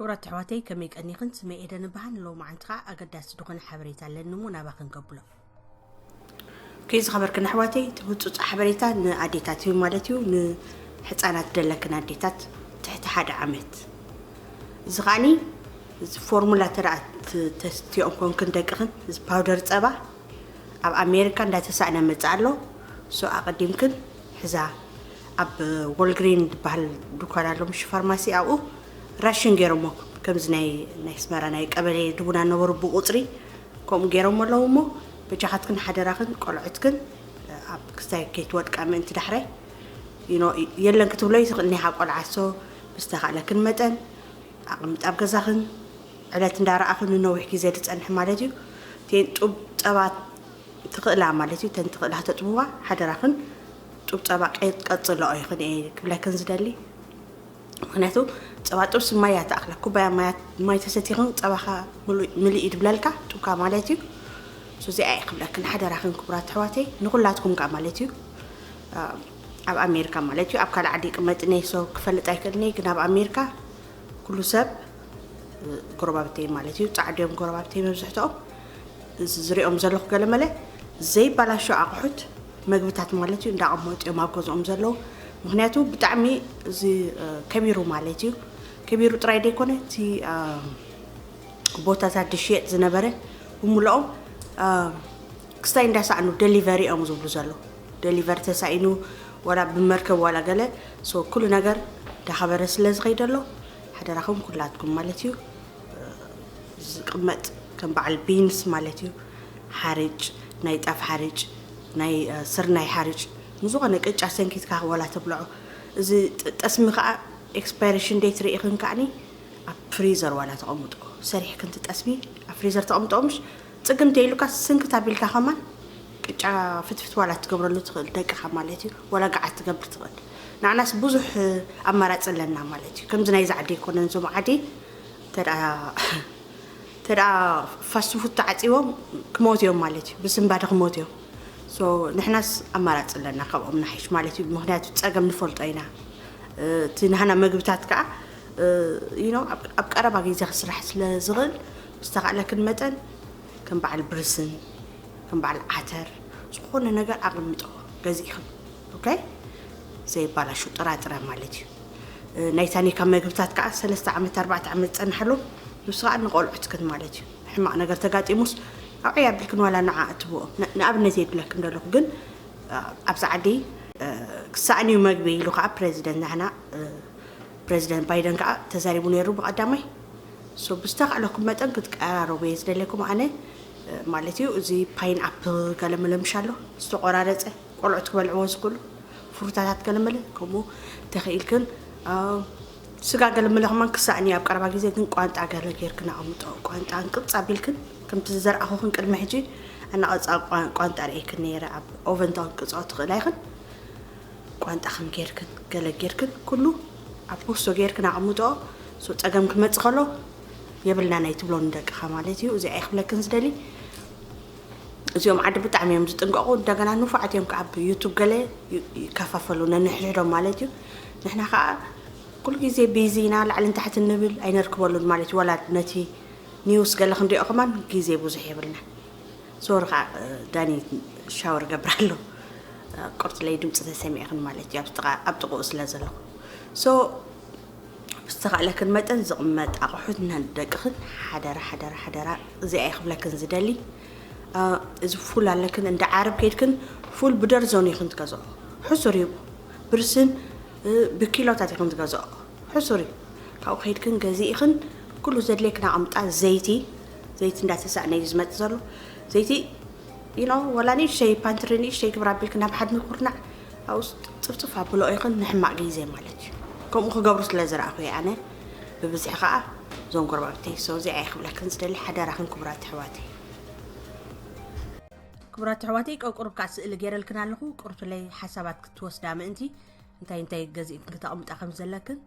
ክብራት ኣሕዋተይ ከመይ ቀኒኽን ስመ ኤደን እበሃል ንሎማዓንቲ ከዓ ኣገዳሲ ዝኾነ ሓበሬታ ኣለኒ እሞ ናባኽን ከብሎ ከይ ዝኸበርክን ኣሕዋተይ እቲ ህፁፅ ሓበሬታ ንኣዴታት እዩ ማለት እዩ ንሕፃናት ደለክን ኣዴታት ትሕቲ ሓደ ዓመት እዚ ከዓኒ እዚ ፎርሙላ እንተ ተስትኦም ኮንክን ደቅኽን እዚ ፓውደር ፀባ ኣብ ኣሜሪካ እንዳተሳእነ መፅእ ኣሎ ሶ ኣቐዲምክን ሕዛ ኣብ ወልግሪን ዝበሃል ድኳን ኣሎ ምሽ ፋርማሲ ኣብኡ ራሽን ገይሮሞ ከምዚ ናይ ናይ ስመራ ናይ ቀበሌ ድቡና ነበሩ ብቑፅሪ ከምኡ ገይሮሞ ኣለዉ እሞ በጃኻትክን ሓደራኽን ቆልዑትክን ኣብ ክስታይ ከይትወድቃ ምእንቲ ዳሕራይ የለን ክትብሎ ይኽእል ኒኻ ቆልዓሶ ብዝተኻእለክን መጠን ኣቕምጥ ኣብ ገዛኽን ዕለት እንዳረኣኽን ንነዊሕ ግዜ ድጸንሒ ማለት እዩ ቴን ጡብ ጸባ ትኽእላ ማለት እዩ ተን ትኽእላ ተጥብዋ ሓደራኽን ጡብ ጸባ ቀይጥ ቀጽለኦ ይኽን እየ ክብለክን ዝደሊ ምክንያቱ ጸባ ጥብሲ ማይ እያ ትኣክላ ኩባያ ማይ ተሰቲኽን ጸባኻ ምልእ እዩ ድብለልካ ጡብካ ማለት እዩ ሱዚኣ እየ ክብለክን ሓደራክን ክቡራት ኣሕዋተይ ንኩላትኩም ከዓ ማለት እዩ ኣብ ኣሜርካ ማለት እዩ ኣብ ካልእ ዓዲ ይቅመጥ እኔ ሶ ክፈልጥ ኣይክእልኔ ግን ኣብ ኣሜርካ ኩሉ ሰብ ጎረባብተይ ማለት እዩ ጻዕዱ እዮም ጎረባብተይ መብዝሕትኦም ዝሪኦም ዘለኹ ገለመለ ዘይባላሾ ኣቑሑት መግብታት ማለት እዩ እንዳቐመጡ እዮም ኣብ ገዝኦም ዘለዉ ምክንያቱ ብጣዕሚ እዚ ከቢሩ ማለት እዩ ከቢሩ ጥራይ ደይኮነ እቲ ቦታታት ዝሽየጥ ዝነበረ ብምልኦም ክስታይ እንዳሳዕኑ ደሊቨሪ እዮም ዝብሉ ዘለዉ ደሊቨር ተሳኢኑ ዋላ ብመርከብ ዋላ ገለ ሶ ኩሉ ነገር ዳኸበረ ስለ ዝኸይድ ኣሎ ሓደራኹም ኩላትኩም ማለት እዩ ዝቅመጥ ከም በዓል ቢንስ ማለት እዩ ሓርጭ ናይ ጣፍ ሓርጭ ናይ ስርናይ ሓርጭ ንዝኾነ ቅጫ ሰንኪትካ ዋላ ተብልዖ እዚ ጠስሚ ከዓ ኤክስፓይሬሽን ዴት ርኢኽን ከዓኒ ኣብ ፍሪዘር ዋላ ተቐምጦ ሰሪሕክን ትጠስሚ ኣብ ፍሪዘር ተቐምጦ ምሽ ጽግም ተይሉካስ ስንክት ኣቢልካ ከማን ቅጫ ፍትፍት ዋላ ትገብረሉ ትኽእል ደቅኻ ማለት እዩ ዋላ ገዓት ትገብር ትኽእል ንዓናስ ብዙሕ ኣማራጺ ኣለና ማለት እዩ ከምዚ ናይዚ ዓዲ ኣይኮነን እዞም ዓዲ ተደኣ ተደኣ ፋስት ፉድ ተዓጺቦም ክሞት እዮም ማለት እዩ ብስንባደ ክሞት እዮም ሶ ንሕናስ ኣማራጺ ኣለና ካብኦም ንሓይሽ ማለት እዩ ምክንያቱ ጸገም ንፈልጦ ኢና እቲ ናህና መግብታት ከዓ ይኖ ኣብ ቀረባ ግዜ ክስራሕ ስለ ዝኽእል ብዝተኻእለክን መጠን ከም በዓል ብርስን ከም በዓል ዓተር ዝኾነ ነገር ኣቐምጠዎ ገዚእኽን ኦኬ ዘይባላሹ ጥራጥረ ማለት እዩ ናይ ታኒካ መግብታት ከዓ ሰለስተ ዓመት ኣርባዕተ ዓመት ዝፀንሐሉ ንሱ ከዓ ንቆልዑትክን ማለት እዩ ሕማቕ ነገር ተጋጢሙስ ኣብ ዕያ ኣቢልክን ዋላ ንዓ እትብኦ ንኣብነት የድለክን ዘለኹ ግን ኣብዚ ዓዲ ክሳእን እዩ መግቢ ኢሉ ከዓ ፕረዚደንት ናህና ፕረዚደንት ባይደን ከኣ ተዛሪቡ ነይሩ ብቀዳማይ so ብዝተካእለኩም መጠን ክትቀራረቡ እየ ዝደልየኩም ኣነ ማለት እዩ እዚ ፓይን ኣፕል ገለመለ ምሽ ኣሎ ዝተቆራረፀ ቆልዑት ክበልዕዎ ዝኽእሉ ፍሩታታት ገለመለ ከምኡ ተኽኢልክን ስጋ ገለመለ ከማን ክሳእኒ ኣብ ቀረባ ግዜ ግን ቋንጣ ገለ ጌርክን ኣቐምጦ ቋንጣ እንቅብፅ ኣቢልክን ከምቲ ዝዘርኣኹኽን ቅድሚ ሕጂ ኣናቐፃ ቋንጣ ርእይክን ነይረ ኣብ ኦቨንታውን ቅፅዖ ትኽእላ ይኽን ቋንጣ ከም ጌርክን ገለ ጌርክን ኩሉ ኣብ ቦርሶ ጌርክን ኣቅምጦኦ ሶ ጸገም ክመጽእ ከሎ የብልናን ኣይትብሎ ንደቅኻ ማለት እዩ እዚኣ ይክብለክን ዝደሊ እዚኦም ዓዲ ብጣዕሚ እዮም ዝጥንቀቑ እንደገና ንፉዓት እዮም ከዓ ብዩቱብ ገለ ይከፋፈሉ ነንሕድሕዶም ማለት እዩ ንሕና ከዓ ኩሉ ግዜ ቢዚ ኢና ላዕልን ታሕቲ ንብል ኣይነርክበሉን ማለት እዩ ዋላ ነቲ ኒውስ ገለ ክንሪኦ ከማን ግዜ ብዙሕ የብልና ዞር ከዓ ዳኒ ሻወር ገብር ኣሎ ቆርፅለይ ድምፂ ተሰሚዕኽን ማለት እዩ ኣብ ጥቕኡ ስለ ዘለኹ ሶ ብዝተኻእለክን መጠን ዝቕመጥ ኣቑሑት ንደቅኽን ሓደራ ሓደራ ሓደራ እዚኣ ይኽብለክን ዝደሊ እዚ ፉል ኣለክን እንደ ዓረብ ከይድክን ፉል ብደርዞን ይኽን ትገዝኦ ሕሱር እዩ ብርስን ብኪሎታት ይኽን ትገዝኦ ሕሱር እዩ ካብኡ ከይድክን ገዚእኽን ኩሉ ዘድልየክን ኣቐምጣ ዘይቲ ዘይቲ እንዳተሳእነ እዩ ዝመፅ ዘሎ ዘይቲ ዩኖ ወላ ንእሽተይ ፓንትሪ ንእሽተይ ግብር ኣቢልክ ናብ ሓድሚ ኩርናዕ ኣብኡስ ፅፍፅፍ ኣብሎ ይኽን ንሕማቅ ግዜ ማለት እዩ ከምኡ ክገብሩ ስለ ዝረኣኹ እየ ኣነ ብብዝሒ ከዓ እዞም ጎረባብተይ ሰው እዚኣ እየ ክብለክን ዝደሊ ሓደራኽን ክቡራት ኣሕዋተይ ክቡራት ኣሕዋተይ ቀቁሩብ ከዓ ስእሊ ገይረልክን ኣለኹ ቁርቱለይ ሓሳባት ክትወስዳ ምእንቲ እንታይ እንታይ ገዚእክን ክተቕምጣ ከም ዘለክን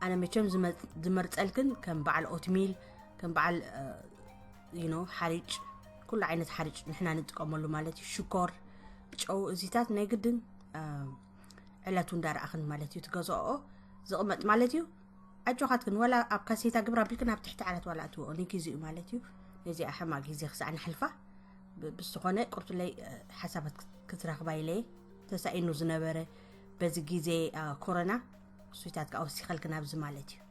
ኣነ መቸም ዝመርፀልክን ከም በዓል ኦትሚል ከም በዓል ዩኖ ሓሪጭ ኩሉ ዓይነት ሓሪጭ ንሕና ንጥቀመሉ ማለት እዩ ሽኮር ጨው እዚታት ናይ ግድን ዕለቱ እንዳረኣኽን ማለት እዩ ትገዝኦ ዝቕመጥ ማለት እዩ ኣጆኻትክን ዋላ ኣብ ካሴታ ግብራ ቢልክን ኣብ ትሕቲ ዓለት ዋላ እትወኦ ንግዜ እዩ ማለት እዩ ነዚኣ ሕማ ግዜ ክሳዕ ንሕልፋ ብዝኾነ ቁርቱለይ ሓሳባት ክትረኽባ ኢለየ ተሳኢኑ ዝነበረ በዚ ግዜ ኮረና እሱታት ከዓ ወሲኸልክን ኣብዚ ማለት እዩ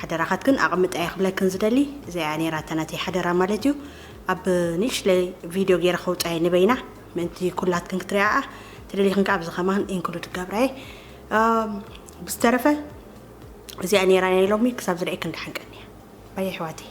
ሓደራኻትክን ኣቕምጣዮ ክብለክን ዝደሊ እዚኣያ ነይራ እታ ናተይ ሓደራ ማለት እዩ ኣብ ንእሽለይ ቪድዮ ገይረ ከውጻየ ንበይና ምእንቲ ኩላትክን ክትሪኣኣ ተደሊኽን ከኣ ኣብዚ ከማን ኢንክሉድ ክገብራየ ብዝተረፈ እዚኣ ነይራ ናይ ሎሚ ክሳብ ዝርእየክን ደሓንቀኒ ባየ ኣሕዋተይ